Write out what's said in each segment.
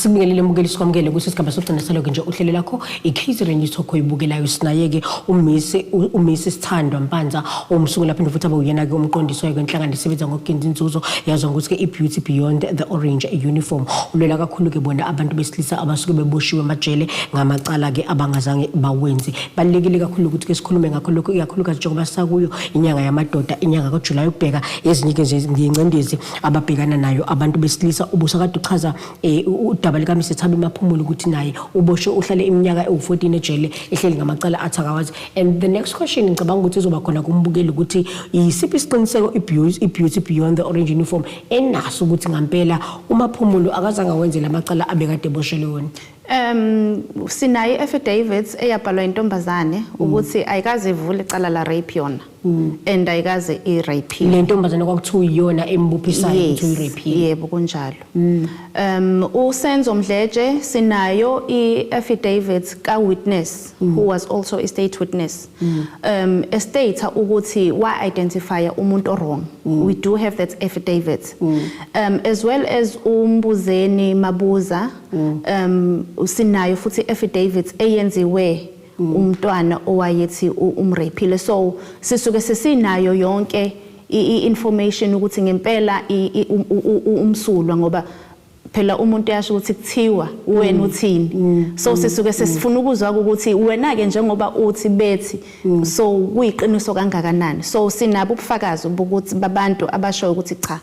asibingelele mukeli sikwamukele ukuthi isigaba sokugcina saloke nje uhlelo lakho i-catering news okho ibukelayo sinayeke umisi umisi sithandwa mpanza omsungula phinde futhi abe uyena-ke umqondisi wayo kwenhlangano isebenza ngokugenza inzuzo yazwa ngokuthi-ke i-beauty beyond the orange uniform ulwela kakhulu-ke bona abantu besilisa abasuke beboshiwe emajele ngamacala-ke abangazange bawenzi Balulekile kakhulu ukuthi ke sikhulume ngakho lokho ikakhulukazi njengoba sisakuyo inyanga yamadoda inyanga kaJuly ubheka ezinye ke nje ngiyingcindezi ababhekana nayo abantu besilisa ubusa kade uchaza eh, udaba lika Mr Thabi Maphumulo ukuthi naye uboshwe uhlale iminyaka ewu14 ejele ehleli ngamacala athi akawazi and the next question ngicabanga ukuthi izoba khona kumbukeli ukuthi yisiphi isiqiniseko ibeauty ibeauty beyond the orange uniform enaso ukuthi ngampela uMaphumulo akazange wenzele amacala abekade eboshelwe wona Um sinayo i-affidavits eyabhalwa intombazane mm. ukuthi ayikaze ivule icala la rape yona mm. and ayikaze i-rape le ntombazane kwakuthiwa iyona embuphisayo ukuthi uyi-rape yebo kunjalo mm. um usenzo mdletshe sinayo i-affidavit ka-witness who was also a state witness um estate ukuthi wa-identifya umuntu orong we do have that affidavit um as well as umbuzeni mabuza mm. um usinayo futhi affidavits eyenziwe mm. umntwana owayethi umraphile so sisuke sesinayo yonke i-information ukuthi ngempela um, umsulwa ngoba phela umuntu uyasho ukuthi kuthiwa wena mm. uthini mm. so mm. sisuke sesifuna ukuzwa ukuthi wena ke njengoba uthi bethi so kuyiqiniso kangakanani so sinabo ubufakazi bokuthi babantu abashoyo ukuthi cha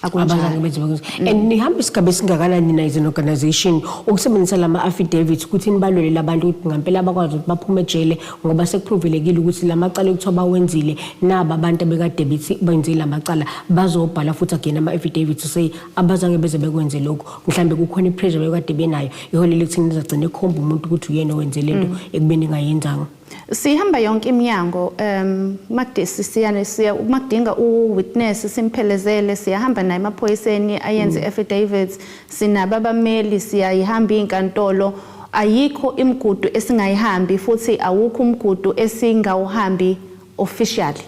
abazange benze bakwenza mm. and nihamba isigaba esingakanani nina as an organization ukusebenzisa lama affidavits ukuthi nibalwelele abantu ukuthi ngampela abakwazi ukuthi baphume ejele ngoba sekuphuvelekile ukuthi lamacala ekuthiwa bawenzile naba abantu abekade bethi benze lamacala bazobhala futhi again ama affidavits to say abazange beze bekwenze lokho mhlambe kukhona ipressure bekade benayo iholele ekuthini nizagcina ekhomba umuntu ukuthi uyena owenze lento mm. ekubeni ngayenzanga sihamba yonke iminyango um makudisi siyane siya makudinga uwitness simphelezele siyahamba naye emaphoyiseni ayenze mm. affidavits sinabo abameli siyayihamba inkantolo ayikho imigudu esingayihambi futhi awukho umgudu esingawuhambi officially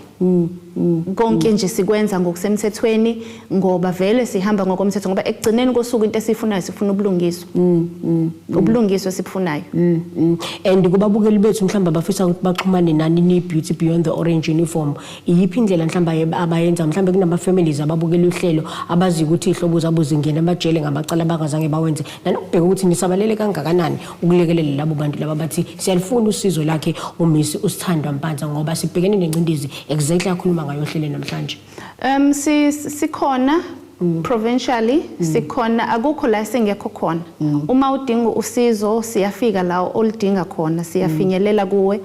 konke nje sikwenza ngokusemthethweni ngoba vele sihamba ngokomthetho ngoba ekugcineni kosuku into esifunayo sifuna ubulungiswa mm, mm, mm. ubulungiswa esibufunayo and kubabukeli bethu mhlawumbe abafisa ukuthi baxhumane nani ni beauty beyond the orange uniform iyiphi indlela mhlawumbe abayenza mhlawumbe kunama families ababukela uhlelo abazi ukuthi ihlobo zabo zingena amajele ngamacala abakazange bawenze nanokubheka ukuthi nisabalele kangakanani ukulekelela labo bantu laba bathi siyalifuna usizo lakhe umisi usithandwa mpanza ngoba sibhekene nencindezi exactly akhuluma ngayo ohlele namhlanje um sikhona Mm. provincially mm. sikhona akukho la singekho khona mm. uma udinga usizo siyafika la oludinga khona siyafinyelela kuwe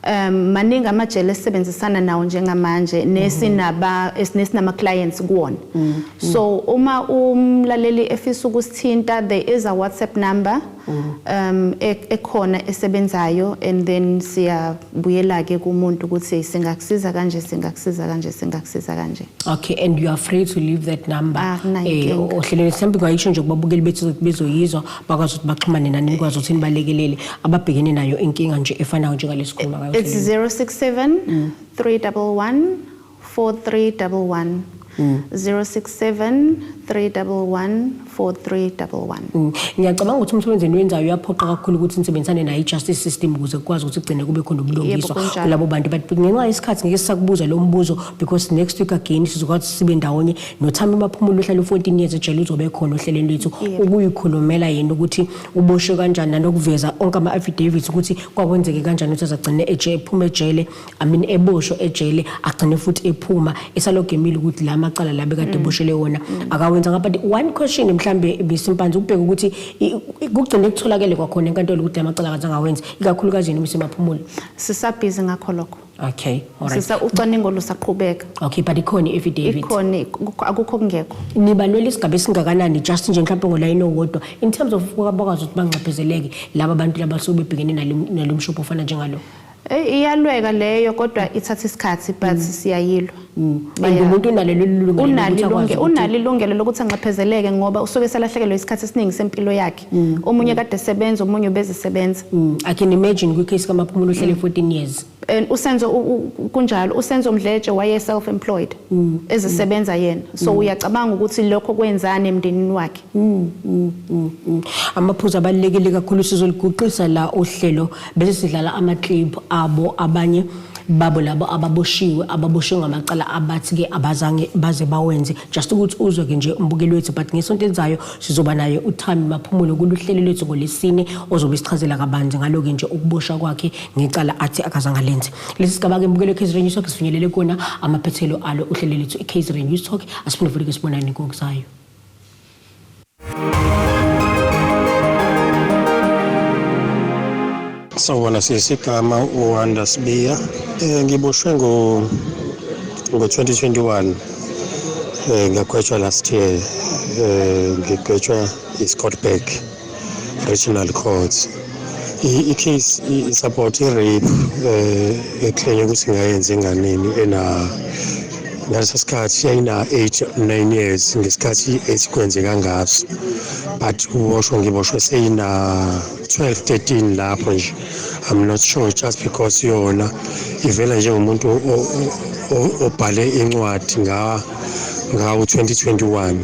um maningi amajele esisebenzisana nawo njengamanje nesinaba nesinama clients kuwona mm, mm. so uma umlaleli efisa ukusithinta there is a WhatsApp number mm. um e, ekhona esebenzayo and then siyabuyela ke kumuntu ukuthi singakusiza kanje singakusiza kanje singakusiza kanje okay and you are free to leave that number ah, eh ohlelweni mhlawumbe kwayisho nje kubabukeli bethu bezoyizwa bakwazi ukuthi baxhumane nani nikwazi ukuthi nibalekelele ababhekene nayo inkinga nje efanayo njengalezikhuluma ngayo it's 067 311 4311 067-311-4311 mm. ngiyacabanga ukuthi umsebenzi eniwenzayo uyaphoqa kakhulu ukuthi nisebenzisane nayo i-justice system ukuze kukwazi ukuthi kugcine kube khona ubulungiswa kulabo bantu but ngenxa yesikhathi ngeke sisakubuza lo mbuzo because next week again sizokwazi sibe ndawonye nothami baphumula uhlala u-14 years ejele uzobe khona ohlelweni lwethu ukuyikhulumela yena ukuthi uboshwe kanjani nanokuveza onke ama-affidavits ukuthi kwakwenzeke kanjani ukuthi azagcine ephuma ejele i mean eboshwe ejele agcine futhi ephuma esalogemile ukuthi la macala la bekade mm. eboshele wona mm. akawenzanga but one question mhlawumbe bisimpanzi ukubheka ukuthi kugcine kutholakele kwakhona enkantolo ukuthi la macala akaze angawenzi ikakhulukazi yena umisemaphumulo sisabhizi ngakho lokho Okay, all right. Sisa ucwaningo lusaqhubeka. Okay, but ikhona i-affidavit. Ikhona ikho- akukho kungekho. Nibalwela isigaba esingakanani just nje mhlawumbe ngolayini owodwa in terms of ukuba bakwazi ukuthi banxephezeleke laba bantu laba suke bebhekene nalo- nalo mshophi ofana njengalo. Eh, Iyalweka leyo kodwa ithatha isikhathi but siyayilwa. And Baya- umuntu unalo lolu lungelo lokuthi Unalo akwazi ilunge- ukuthi- unalo ilungelo lokuthi anxephezeleke ngoba usuke selahlekelwe isikhathi esiningi sempilo yakhe. mm. omunye kade sebenza omunye ubezisebenza mm. i can imagine kwi case kamaphumulo uhlele 14 mm. years and usenzo kunjalo usenzo mdletshe waye self employed mm. ezisebenza yena so mm. uyacabanga ukuthi lokho kwenzani emndenini wakhe mm. Mm. Mm. Mm. amaphuzu abalekile kakhulu sizoliguqisa la ohlelo bese sidlala ama clip abo abanye babo labo ababoshiwe ababoshiwe ngamacala abathi ke abazange baze bawenze just ukuthi uzwe ke nje umbukeli wethu but ngesonto elizayo Sizoba naye uThami Maphumulo kuluhlelo lwethu ngolesine ozobe sichazela kabanzi ngaloke nje ukuboshwa kwakhe ngecala athi akazange alenze. Lesi sigaba ke mbukelo KZN News Talk sifinyelele kona amaphethelo alo uhlelo lwethu iKZN News Talk asiphinde futhi ke sibonane ngokuzayo. Sawubona sisi igama uWanda Sibiya. Eh ngiboshwe ngo ngo 2021. Eh ngagwetshwa last year. Eh ngigwetshwa iScottburg Regional Court. I- I-case i- support i-rape eh ekhenya ukuthi ngayenza enganeni ena ngaleso sikhathi yayina 8 9 years ngesikhathi esikwenzeka ngaso but uboshwe ngiboshwe seyina 12 13 lapho nje i'm not sure just because yona ivela njengomuntu o- o- o- obhale incwadi nga ngawo 2021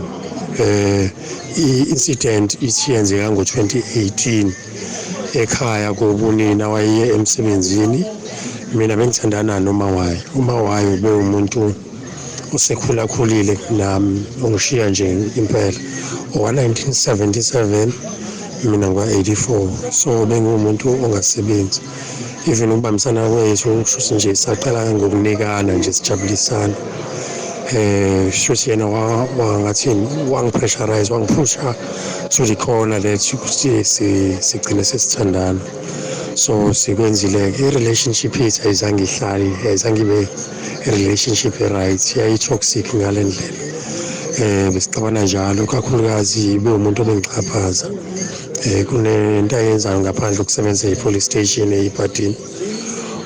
eh i-incident ithi yenzeka ngo-2018 ekhaya kobunina wayeye emsebenzini mina bengithandana nomawayo umawayo bewumuntu usekhulakhulile kunami ungishiya nje impela owa-1977 mina ngwa-84 so bengiwumuntu ongasebenzi even ukubambisana kwethu kushuthi nje saqala ngokunikana nje sijabulisana eh shuthi yena wangathini wangipressurize wangiphusha to the corner that ukuthi sigcine sesithandana so sikwenzile-ke i-relationship yethu ayizange ihlale ayizange ibe relationship e-right yayi-toxic ngale ndlela um besixabana njalo kakhulukazi bewumuntu obengixhaphaza um eh, kunento ayenzayo ngaphandle ukusebenzisa i-police station eyibhadini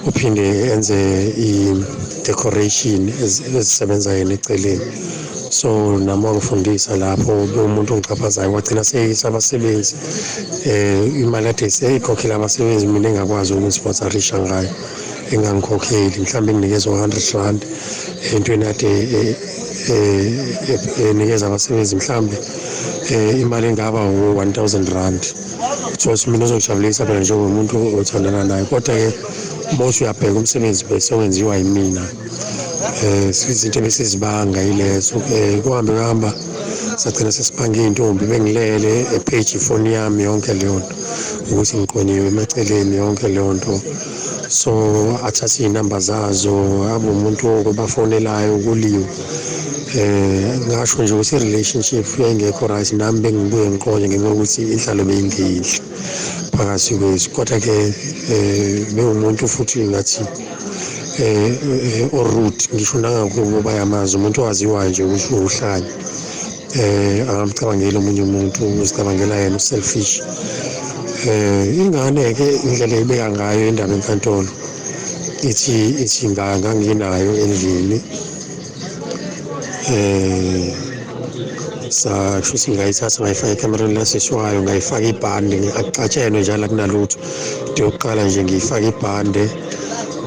uphinde enze i-decoration ezisebenza yena eceleni so nami wangifundisa lapho bewumuntu ongixhaphazayo wagcina seyisa abasebenzi um imali ade seyikhokhela abasebenzi mina engakwazi ukumsponsarisha ngayo engangikhokheli mhlawumbe nginikeza u-hundred rand entweni ade eh, eh, enikeza abasebenzi mhlawumbe um imali engaba u-one thousand rand course mina uzojabulisa phela njengomuntu othandana naye kodwa-ke uma uthi uyabheka umsebenzi bese wenziwa yimina um izinto ebesizibanga yilezo um kuhambe kuhamba sagcina sesibhange iy'ntombi bengilele epheji ifoni yami yonke leyo nto ukuthi ngiqonyiwe emaceleni yonke leyo nto so athathe iy'namba zazo abe umuntu obafonelayo kuliwe eh ngasho nje ukuthi i-relationship yayingekho right nami bengibuye ngiqonye ngenxa yokuthi inhlalo beyingeyinhle phakathi kwethu kodwa-ke um bewumuntu futhi ngathi um orude ngisho nangakubo bayamazi umuntu owaziwayo nje ukuthi uhlanya eh angamcabangeli omunye umuntu uzicabangela yena uselfish eh ingane ke indlela ebeka ngayo indaba enkantolo ithi ithi nganga nginayo endlini eh sa shuthi ngayithatha ngayifaka ekamereni lasishwayo ngayifaka ibhande akucatshelwe njalo kunalutho into yokuqala nje ngiyifaka ibhande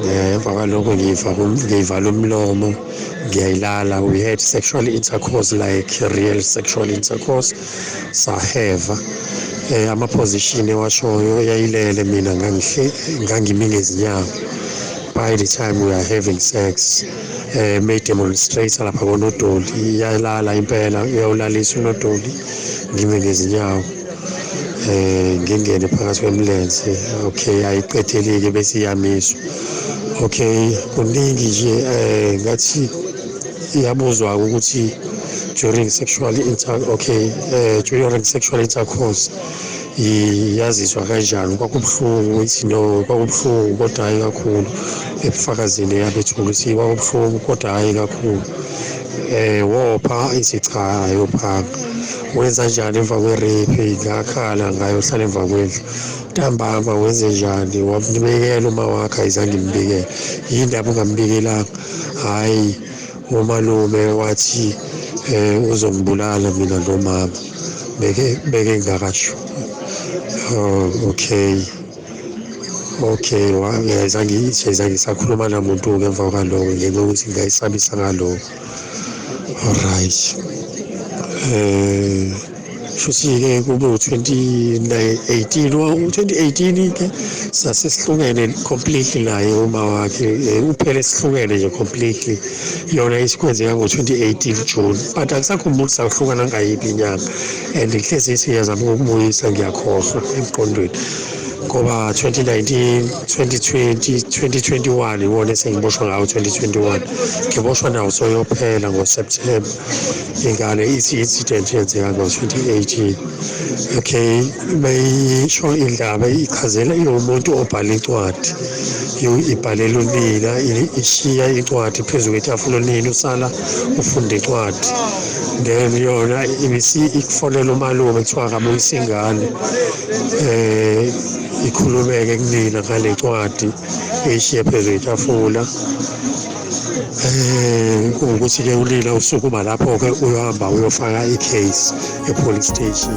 eh, emva kwaloko ngiyivala umlomo ngiyayilala we had sexual intercourse like real sexual intercourse saheva um eh, ama-position ewashoyo yayilele mina ngangihle ngangimi ngezinyawo by the time we are having sex um eh, mayidemonstrate lapha konodoli iyalala impela uyawulalisa unodoli ngime ngezinyawo eh ngingene phakathi kwemlenze okay ayiqedeleke bese iyamiswa okay kuningi nje eh ngathi iyabuzwa ukuthi during sexual inter okay eh during sexual intercourse yazizwa kanjani kwakubuhlungu ithi no kwakubuhlungu kodwa hhayi kakhulu ebufakazini eyabethula ukuthi kwakubuhlungu kodwa hhayi kakhulu um wopha ithi cha ayophanga wenza njani emva kwe-rape ngakhala ngayo hlala emva kwendlu ntambama wenze njani wamnibekela uma wakhe ayizange imbikele yini ndaba ungambikelanga hhayi umalume wathi um uzongibulala mina lo mama beke beke ngingakasho oh, okay okay ngiyayizange isakhuluma namuntu-ke emva kwaloko ngenxa yokuthi ngingayisabisa ngaloko Alright. Eh futhi ke kube u-2018 u-2018 ke sase sihlukene completely naye uma wakhe eh, uphele sihlukene nje completely yona isikwenzeka ngo-2018 June but angisakhumbuli sahlukana ngayiphi inyanga and ngihlezi siyazama ukubuyisa ngiyakhohlwa emqondweni ngoba 2019 2020 2021 iwona esengiboshwa ngawo 2021 ngiboshwa nawo soyophela ngoseptemba ingane ithi incident yenzeka ngo-2018 okay beyisho indaba ichazela iwumuntu obhala incwadi ibhalela unina ishiya incwadi phezu kwetafula unina usala ufunda incwadi then yona ibisi ikufonela umalume kuthiwa akabuyisa ingane eh ikhulumeke kunina ngalencwadi eshiye phezu kwetafula eh ukuthi ke ulila usukuma lapho ke uyohamba uyofaka icase epolice station